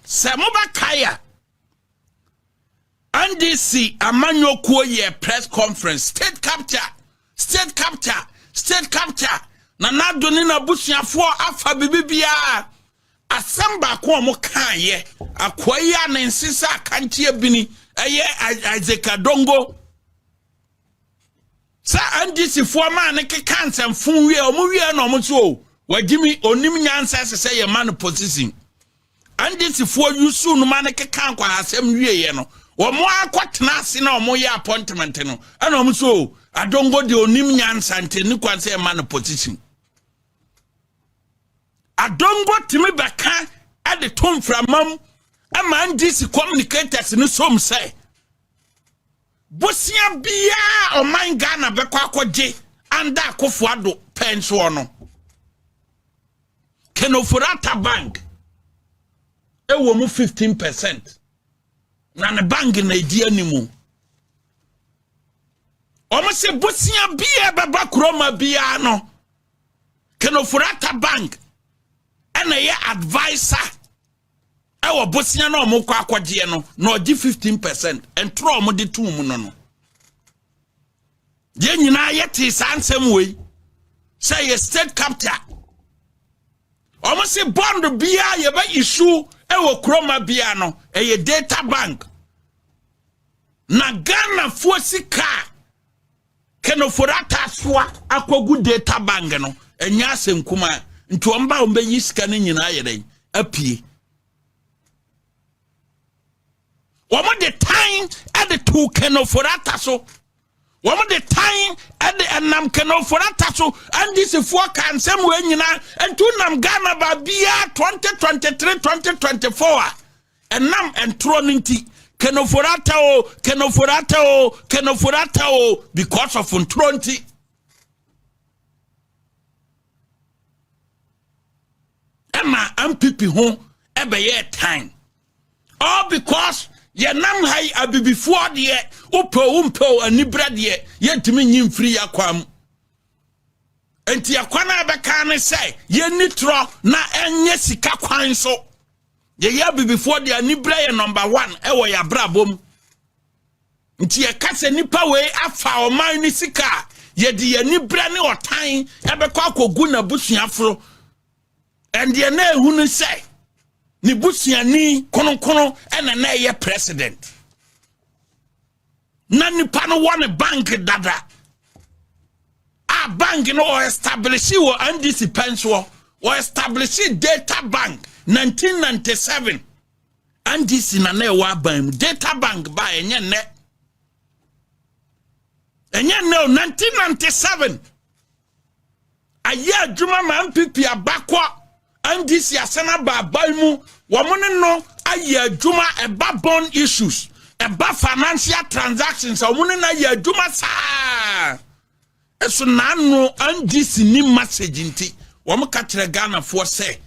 Sɛ mobɛkae a, NDC amanyɔkuo yɛɛ press conference, state capture, state capture, state capture, na n'ado ne n'abusuafoɔ afa biribiara. Asɛm baako a wɔkaeɛ, akoa yi a ne nse sɛ akanteɛ bini, ɛyɛ Isaac Adongo. sɛ ndc foɔ maa ne keka nsɛmfo wie ɔmo wie na ɔmo so o wagyimi onim nyansa ɛsɛ sɛ yɛ ma no position ndc foɔ yusu no ma ne keka nkwahasɛm wie yɛ no ɔmo akɔ tena ase na ɔmo yɛ appointment no ɛna ɔmo so o adongo de onim nyansa nti ne kwan sɛ yɛ ma no position adongo tumi bɛka ɛde to mframam ɛma ndc communicators no som sɛ Bosea biara a ɔman Ghana bɛkɔ akɔgye anda akofo ado pɛn soɔ no, Kenoforata Bank ɛwɔ mu 15 percent na ne bank na ɛdi animu. Wɔn se bosea biara bɛba kuroma biara no, Kenoforata Bank ɛna ɛyɛ advisor ɛwɔ bosea na wɔn kɔ akɔgyeɛ no na ɔgye fifteen percent ntorɔ wɔn de tum mu no no yɛn nyinaa yɛte saa nsɛm wei sɛ yɛ state capital wɔn se bond biara yɛbɛ issue ɛwɔ kuroma biara no ɛyɛ data bank na ghanafoɔ sika a Kenoforato asoa akɔgu data bank no ɛnyɛ asɛm kumaa nti wɔn ba wɔn bɛyi sika no nyinaa yɛ dɛn apue wɔn de tan de to kenoforata so wɔn de tan de ɛnam kenoforata so ndisifoɔ ka nsɛm wɔ nyinaa nti nam ghana baabiara twenty twenty three twenty twenty four a. Ɛnam ntorɔ no nti, kenoforata o, kenoforata o, kenoforata o, because of ntorɔ nti. Ɛma MPP ho ɛbɛyɛ tan. All because yɛnam ha yi abibifoɔ deɛ wopɛw wompɛw anibrɛ deɛ yɛntumi nyi mfiri yɛ akwan mu. Enti ɛkwan a ɛbɛka ne sɛ yɛnni torɔ na ɛnyɛ sika kwan so. Yɛyɛ abibifoɔ de aniberɛ yɛ number one ɛwɔ yɛ abrabɔ mu. Nti yɛka sɛ nipa wei afa ɔman ne sika a yɛde yɛ aniberɛ ne ɔtan ɛbɛkɔ akɔgu n'abusuaforo. Ɛndeɛ na ehu ne sɛ ne busuani kronkron ɛna na ɛyɛ president. na nipa no wɔ ne bank dada a bank no wɔ establish wɔ ndc pɛn soɔ wɔ establish data bank 1997 ndc na na ɛwɔ aban mu data bank ba ɛnyɛ nnɛ ɛnyɛ nnɛ o 1997 ayɛ adwuma ma npp abakɔ ndc asan aba aban mu wɔn ne no ayɛ adwuma ɛba bond issues ɛba financial transactions a wɔn ne no ayɛ adwuma saa ɛso n'ano ndc ni message nti wɔn ka kyerɛ ghanafoɔ sɛ.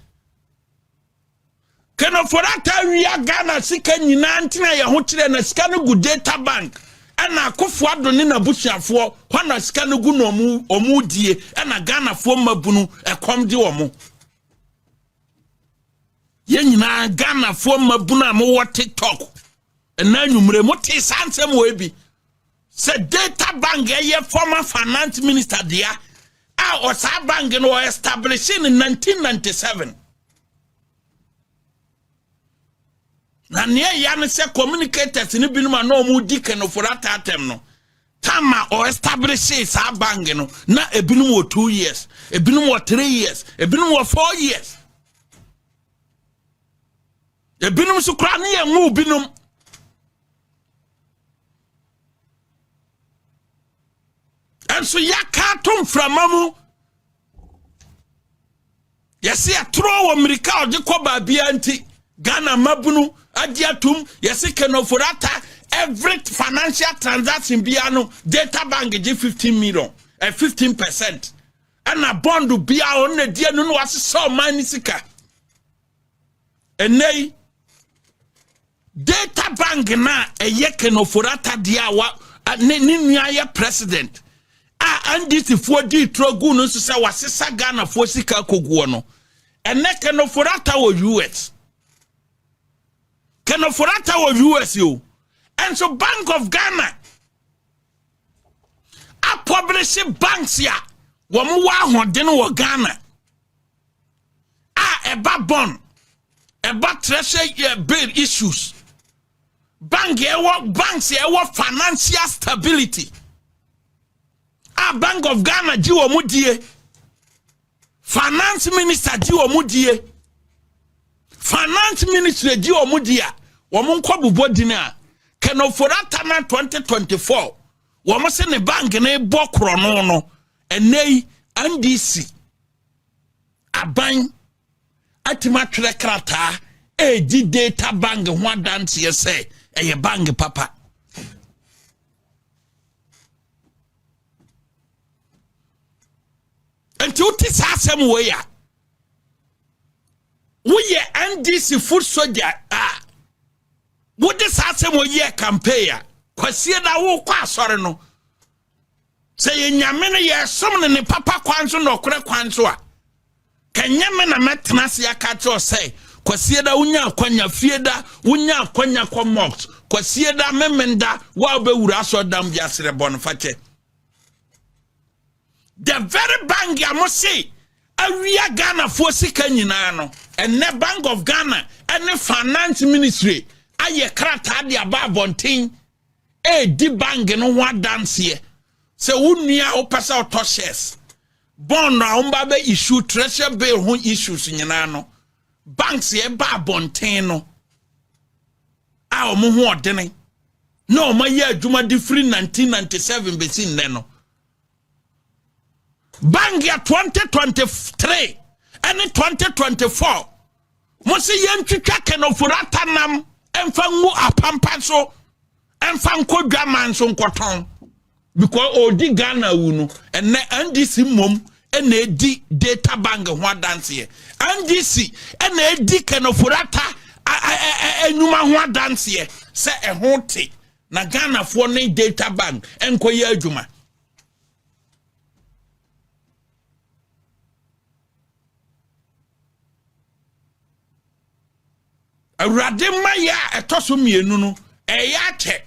Kenofo no ataa wia Ghana sika nyinaa ntena yɛ ho kyerɛ na sika no gu data bank ɛna akofo ado ne n'abusuafoɔ hɔ na sika no gu na ɔmo ɔmo die ɛna Ghanafoɔ mmabunu ɛkɔm de ɔmo yɛn nyinaa Ghanafoɔ mmabunu a mowɔ TikTok ɛna anwummere mo tee saa nsɛm wɔ ebi sɛ data bank ɛyɛ former finance minister dea a ɔsaa bank no wɔ establish in 1997 na nea ɛya no sɛ communicators no binom a na wɔn di kanoforo ataatam no tama ɔ establish saa bank no na ebinom wɔ two years ebinom wɔ three years ebinom wɔ four years. ebinom nso koraa ne yɛn nwoo binom nso yɛaka ato mframa mu yɛse ɛtorɔ wɔ mmirika a ɔde kɔ baabia nti ghana mmabunu agye atom yɛse kenoforata every financial transaction biara no data bank gye 15 million ɛ eh, 15 percent ɛna bond biara ɔno na ɛdi ɛno na wasesɛ ɔman ne sika ɛnɛ yi data bank no a ɛyɛ kenoforata deɛ a wa ne ne nua yɛ president a andisifoɔ dii turo gu no nso sɛ wasesa ghanafoɔ sika akoguɔ no ɛnɛ kenoforata wɔ us kenoforata wɔ us o ɛnso bank of ghana apɔbere se banks a wɔn wɔ ahoɔden wɔ ghana a ɛba bɔn ɛba treasure eh, bill issues bank ɛwɔ banks ɛwɔ financial stability a bank of ghana gye wɔn die finance minister gye wɔn die finance ministry gye wɔn die a wɔn nkɔ bobɔ din a kɛnɛforo atana 2024 wɔn se ne bank ne bɔ korɔ no no ɛnɛ yi ndc aban atumi atwerɛ krataa ɛredi data bank ho adanseɛ sɛ ɛyɛ bank papa nti wote saa asɛm wei a woyɛ ndc food soldier a wode saa asɛm wei yɛ campaign a kwasie na wokɔ asɔre no Sɛ yɛ nyame no yɛsom no ne papa kwan so nɔkorɛ kwan so a kɛnyɛ me na mɛtena ase aka kyerɛ sɛ kwasie da wonya akwanya fie da wonya akwanya kɔ mox kwasie da memen da wo a wobɛwura asɔ dam bi aserɛ bɔ no fakyɛ the very bank a mo se awia ghanafoɔ sika nyinaa no ɛnɛ bank of ghana ɛne finance ministry ayɛ krataa de aba abɔnten ɛredi bank no ho adanseɛ sɛ wo nua a wopɛ sɛ ɔtɔ shares bond a wɔba bɛ issue treasure bill ho issues nyinaa no banks yɛ ba abɔnten no a wɔn ho ɔdene na wɔn ayɛ adwuma de firi 1997 bɛsi nnɛ no Bangia 2023 ɛne 2024 mo se yɛntwitwa kenofurata nam ɛmfa ngu apampa so ɛmfa nkɔ dwaman so nkɔtɔn because ɔdi Ghana wu no ɛnɛ NDC mmom ɛna ɛdi data bank ho adanseɛ NDC ɛna ɛdi kenofurata nnwuma ho adanseɛ sɛ ɛho te na ghanafoɔ ne data bank nkɔyɛ adwuma awurade mma yɛ a ɛtɔ so mmienu no ɛyɛ akyɛ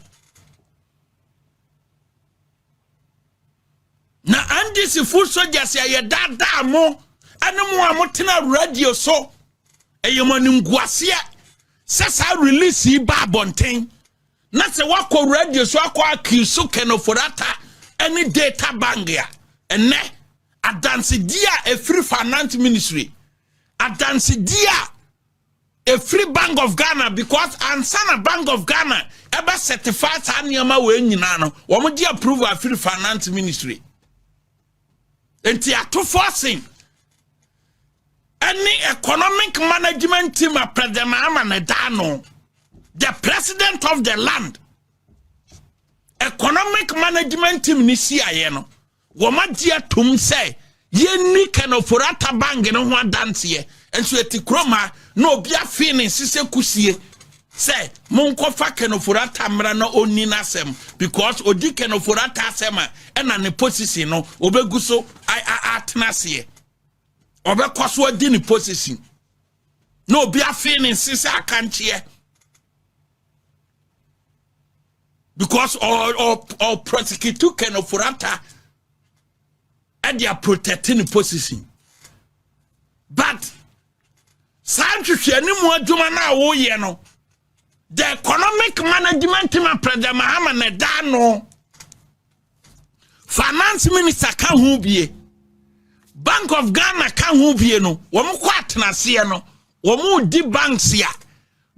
na andisifo sogyas ɛyɛ daadaa mo ɛne mo a motena radio so ɛyɛ mo animguaseɛ sɛ saa release yi ba abɔnten na sɛ woakɔ radio so akɔ akiso kɛnɔforata ne data bank a ɛnɛ adansedie a ɛfiri finance ministry adansedie a ɛfiri bank of ghana because ansa na bank of ghana ɛbɛ certify saa nneɛma wɔ nyinaa no wɔn gye approve afiri finance ministry Enti atofo asen ɛne economic management team a President Mahama na ɛda ano. The president of the land. Economic management team ni si ayɛ no. Wɔn agye atum sɛ yɛnni kanoforata bank no ho adanseɛ nso ɛti kurom ha na obi afee ne nsesɛ kusie Sɛ monkɔ fa kɛnofurata mmra na ɔnni n'asɛm because ɔdi kɛnofurata asɛm a ɛna ne position no ɔbɛgu so atena aseɛ ɔbɛkɔ so adi ne position na obi afei ne nse sɛ akankyeɛ because ɔprɔsikitu kɛnofurata ɛde a protect ne position but saa nhwehwɛ ne mu adwuma no a woyɛ no the economic management ma president mahama na ɛda ano finance minister ka ho bie bank of ghana ka ho bie no wɔn kɔ atenaseɛ no wɔn di banks a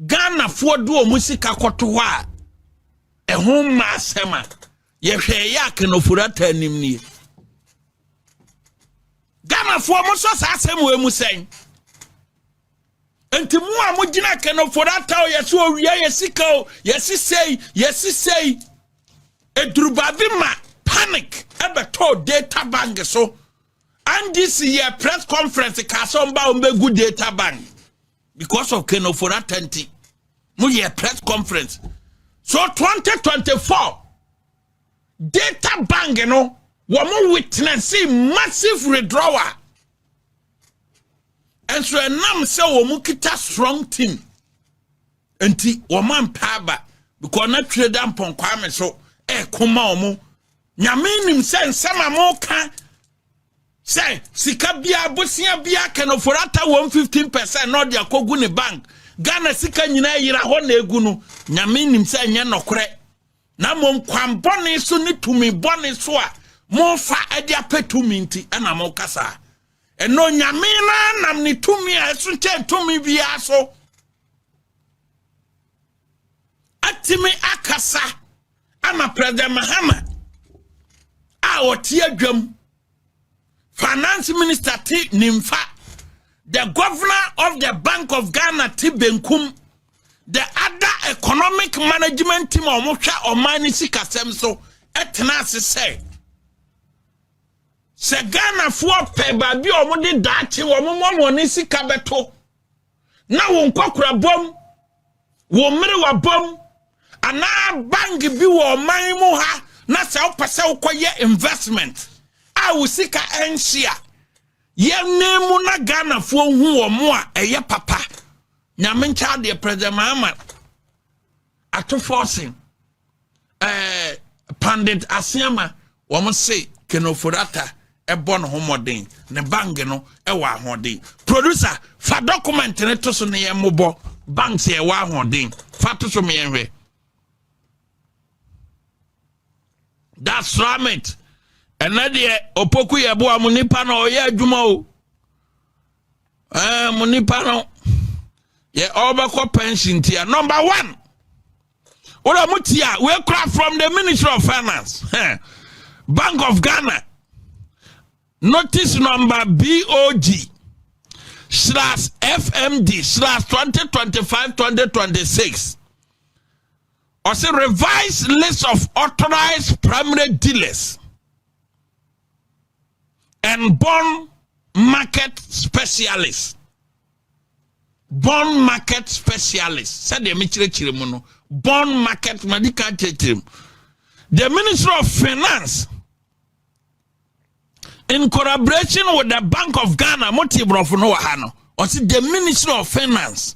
ghanafoɔ de wɔn sika kɔto hɔ a ɛho mma asɛm a yɛhwɛ ɛyɛ akanofori ata anim nie ghanafoɔ mo sɔ saa asɛm wɔ mu sɛn nti mu a mogyina akanofori ata o yɛsɛ owia yɛ sika o yɛsi sei yɛsi sei edurubaabi ma panic ɛbɛtɔ data bank so ndc yɛ press conference kaa sɛ ɔmba ɔmbɛgu data bank because of kenoforata nti moyɛ press conference so 2024 data bank no wɔn witness massive withdrawal nso ɛnam sɛ wɔn kita strong team nti wɔn ampa aba because na twere da mpɔnkwa me so ɛkoma wɔn nyame nim sɛ nsɛm a mo ka sɛ sika biara bosea biara can afford ata wɔn 15 percent na ɔde akɔgu ne bank ghana sika nyinaa yera hɔ na egu no nyame nim sɛ ɛnyɛ nɔkorɛ na mmom kwan bɔne so ne tumi bɔne so a mofa de apɛ tumi nti ɛna mokasa ɛno nyame no anam ne tumi a ɛso kyɛn tumi biara so atumi akasa ama president mahama a ɔte adwam finance minister te nimfa the governor of the bank of ghana te benkum the other economic management team a wɔhwɛ ɔman no sikasɛm so ɛtena ase sɛ sɛ ghanafoɔ pɛ baabi a wɔde daakye wɔn mmɔmɔ ne sika bɛto na wo nkɔkorabɔm, wo mmerewabɔm, anaa bank bi wɔ ɔman mu ha na sɛ wopɛ sɛ wokɔyɛ investment a wo sika ɛnhye a yɛne mu na ghanafoɔ hu wɔ mo a ɛyɛ papa nyame nkyɛ adeɛ president mahama ato fɔsen ɛɛ pandit aseama wɔn se kenoforata ɛbɔ ne ho mmɔden ne bank no ɛwɔ ahoɔden producer fa document ne to so ne yɛn mmobɔ bank sɛ ɛwɔ ahoɔden fa to so me yɛn hwɛ that's ramit ɛnɛ deɛ opoku yɛ boa mu nipa na ɔyɛ adwuma o. mo nipa no yɛ ɔbɛkɔ pension tia number one wọ́n mo tia we kura from the ministry of finance bank of ghana notice number bog slash fmd slash twenty twenty five twenty twenty six ɔsɛ revised list of authorized primary dealers. and bond market specialist bond market specialist sɛdeɛ mekyerɛkyerɛ mu no bond market madi ka kyerɛkyerɛ mu the ministry of finance in collaboration with the bank of ghana mo te borɔfo no wɔ ha no ɔse the ministry of finance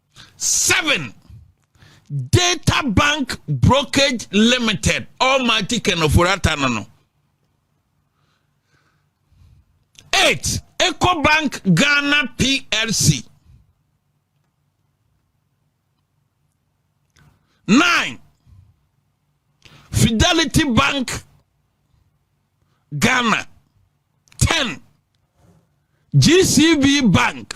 Seven, Data Bank Brokerage Limited, Almighty Kenoforata no no. Eight, Bank Ghana PLC. Nine, Fidelity Bank Ghana. Ten, GCB Bank.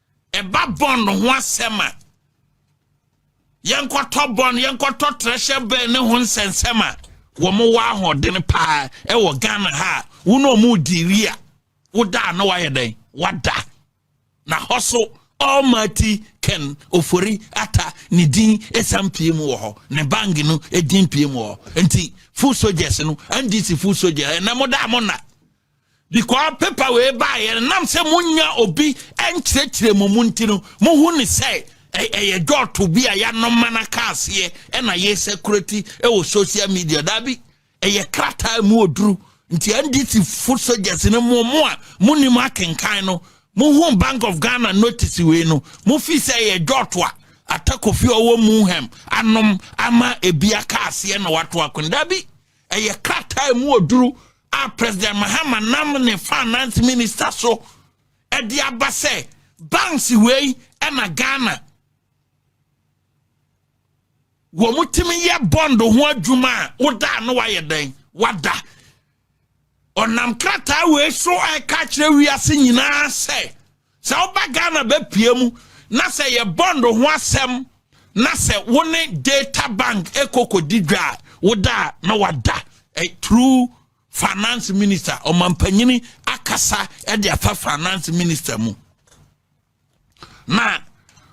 Ɛba bɔn ho asɛm a, yɛnkɔtɔ bɔn, yɛnkɔtɔ trɛhyɛ bɛn ne ho nsɛnsɛm a wɔwɔ ahoɔden paa ɛwɔ Ghana ha a wo ne ɔmo di wie a woda a na wayɛ dɛn wada na hɔ so Almighty Ken Ofori Atta ne din ɛsan pie mu wɔ hɔ ne bang no ɛdin pie mu wɔ hɔ nti full soldiers no NDC full soldiers ɛnɛ mo da mo na Because paper wei baeɛ no nam sɛ monya obi nkyerɛkyerɛ mu mu nti no mohu ne sɛ ɛyɛ dɔɔto bi a yɛanoma no aka aseɛ ɛna yɛ security ɛwɔ social media daabi ɛyɛ krataa mu oduru nti ndc foot soldiers no mo mo a monim akenkan no mohu bank of ghana notice wei no mofi sɛ ɛyɛ dɔɔto a atakofi ɔwɔ mu hɛm anom ama ebi aka aseɛ na wato akon daabi ɛyɛ krataa mu oduru a president mahama nam ne finance minister so ɛde aba sɛ banks wei ɛna ghana wɔn tumi yɛ bond ho adwuma a woda no wayɛ dɛn wada ɔnam krataa wei so ɛka kyerɛ wiase nyinaa sɛ Sɛ woba Ghana bɛpue mu na sɛ yɛ bond ho asɛm na sɛ wo ne data bank ɛkɔkɔdi dwa a woda a na wada eh, through finance minister ɔmampanyini akasa de afa finance minister mu na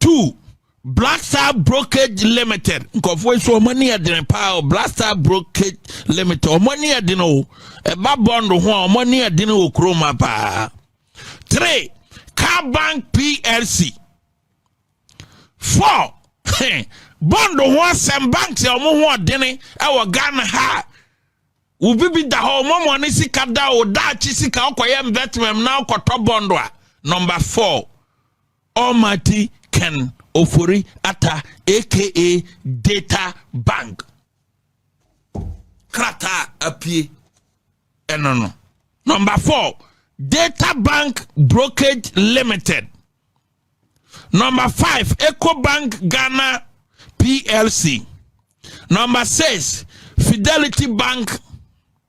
Two, Black Star Brokerage Limited. Nkɔfoɔ nso wɔn ani yɛ den paa o. Black Star Brokerage Limited wɔn ani yɛ den o. Ɛba bond ho a wɔn ani yɛ den wɔ kurom ha paa. Three, Car Bank PLC. Four, bond ho asɛm banks a wɔn ho ɔdene ɛwɔ Ghana ha. Obi bi da hɔ wɔn wɔn ne sika da o daakye sika ɔkɔyɛ investment na ɔkɔtɔ bond a. Number four. Almighty Ken Ofori Atta aka Data Bank krataa apie ɛno no. Number four, Data Bank Brokerage Limited. Number five, EcoBank Ghana PLC. Number six, Fidelity Bank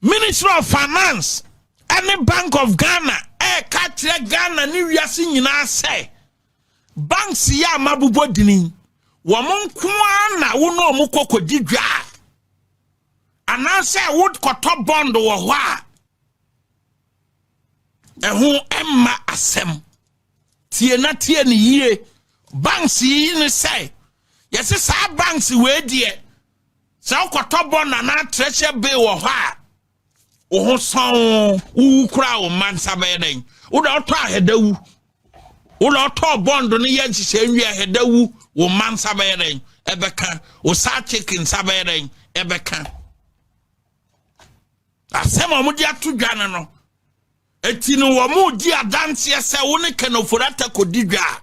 Ministry of Finance ne Bank of Ghana ɛreka akyerɛ Ghana ne wiase nyinaa sɛ banks yi a mabobɔ dini wɔn nko ara na wo ne wɔn kɔkɔdi dwa a anaasɛ wokɔtɔ bond wɔ hɔ a ɛho mma asɛm tie na tie ne yie banks yi ne sɛ yɛse saa banks wei deɛ Sɛ wokɔtɔ bɔn anaa treasure bill wɔ hɔ a, wo ho sɔn wowu koraa wo mma nsa bɛyɛ dɛn? Wo na ɔtɔ ahɛda wu. Wo na ɔtɔ bɔn do no yɛ nhyehyɛ nwie ahɛda wu wo mma nsa bɛyɛ dɛn? Ɛbɛka. Wo saa chicken nsa bɛyɛ dɛn? Ɛbɛka. Asɛm a wɔde ato dwa no no, eti no wɔn di adanseɛ sɛ wo ne kɛnɛfori atakɔdi dwa a,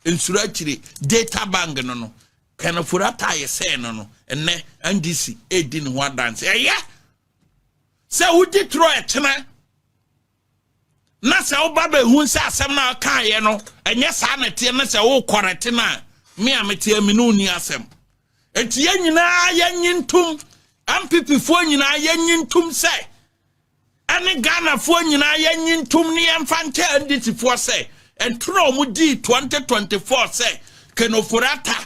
Nsuro akyire data bank no no kanafori ataayɛ sɛɛ no no ɛnɛ ndc edi ne ho adanse ɛyɛ sɛ wodi toro ɛkyena na sɛ woba bɛhu sɛ asɛm no a kaayɛ no ɛnyɛ saa na ɛteɛ na sɛ wokɔrɛte no a me a meteɛ me ne wonni asɛm ɛnti yɛn nyinaa yɛnye ntom mpp foɔ nyinaa yɛnye ntom sɛ ɛne Ghanafoɔ nyinaa yɛnye ntom ne yɛmfa nkyɛ NDCfoɔ sɛ ɛnto na wɔn dii 2024 sɛ Ken Ofori-Atta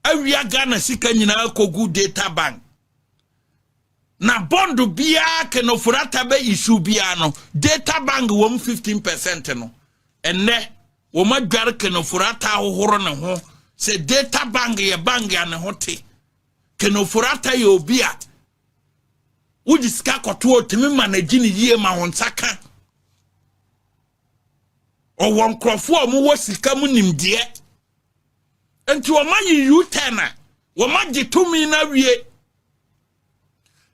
awia Ghana sika nyinaa kɔgu data bank na bond biara Ken Ofori-Atta bɛ issue biara no data bank wɔm 15 percent no ɛnnɛ wɔn adware Ken Ofori-Atta ahohoro ne ho sɛ data bank yɛ bank a ne ho te Ken Ofori-Atta yɛ obi a Wogye sika kɔto otumi ma n'agyi ne yie ma wɔn nsa ka. Ɔwɔ nkurɔfoɔ a wɔwɔ sika mu nimdeɛ. Nti wɔn ayi U-turn a wɔn agye tumi no awie.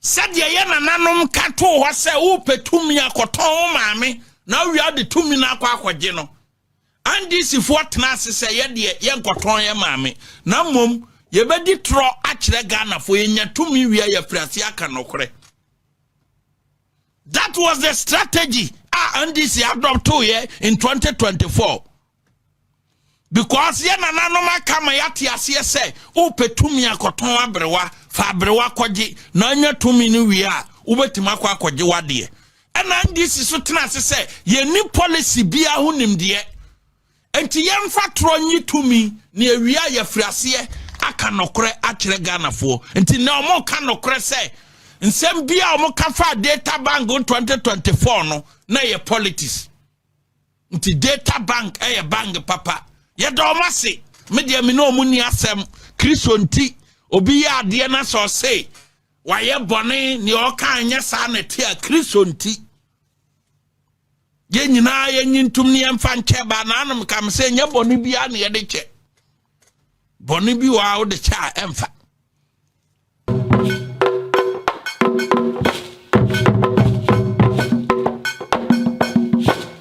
Sɛdeɛ yɛ nananom ka too hɔ sɛ wopɛ tumi akɔtɔn wo maame na awia de tumi no akɔ akɔgye no. NDCfoɔ tena ase sɛ yɛdeɛ yɛnkɔtɔn yɛ maame na mmom yɛbɛdi torɔ akyerɛ Ghanafoɔ yɛnya tumi wie a yɛfiri ase aka nɔkorɛ. That was the strategy a NDC adoptoeɛ in 2024 because yɛ nananom aka ma yɛate aseɛ sɛ wopɛ tumi akɔtɔn aberewa fa aberewa kɔgye na anya tumi no wie a wobɛtumi akɔ akɔgye wadeɛ Ɛna NDC so tena ase sɛ yɛnni policy biara ho nimdeɛ. Nti yɛmfa torɔ nyi tumi ne awia a yɛfiri aseɛ aka nɔkorɛ akyerɛ Ghanafoɔ. Nti na wɔka nɔkorɛ sɛ nsɛm bi a wɔka faa data bank 2024 no na ɛyɛ politics. Nti data bank ɛyɛ bank papa. Yɛda wɔn ase. Me deɛ me ne wɔn ni asɛm. Kristo nti obi yɛ adeɛ na sɛ ɔse Wayɛ bɔne, nea ɔka nyɛ saa na ɛte a Kristo nti. Yɛn nyinaa yɛnyi ntom ne yɛmfa nkyɛ baa n'anom kam sɛ nyɛ bɔne biara na yɛde kyɛ. Bɔne bi wɔ a wode kyɛ a ɛmfa.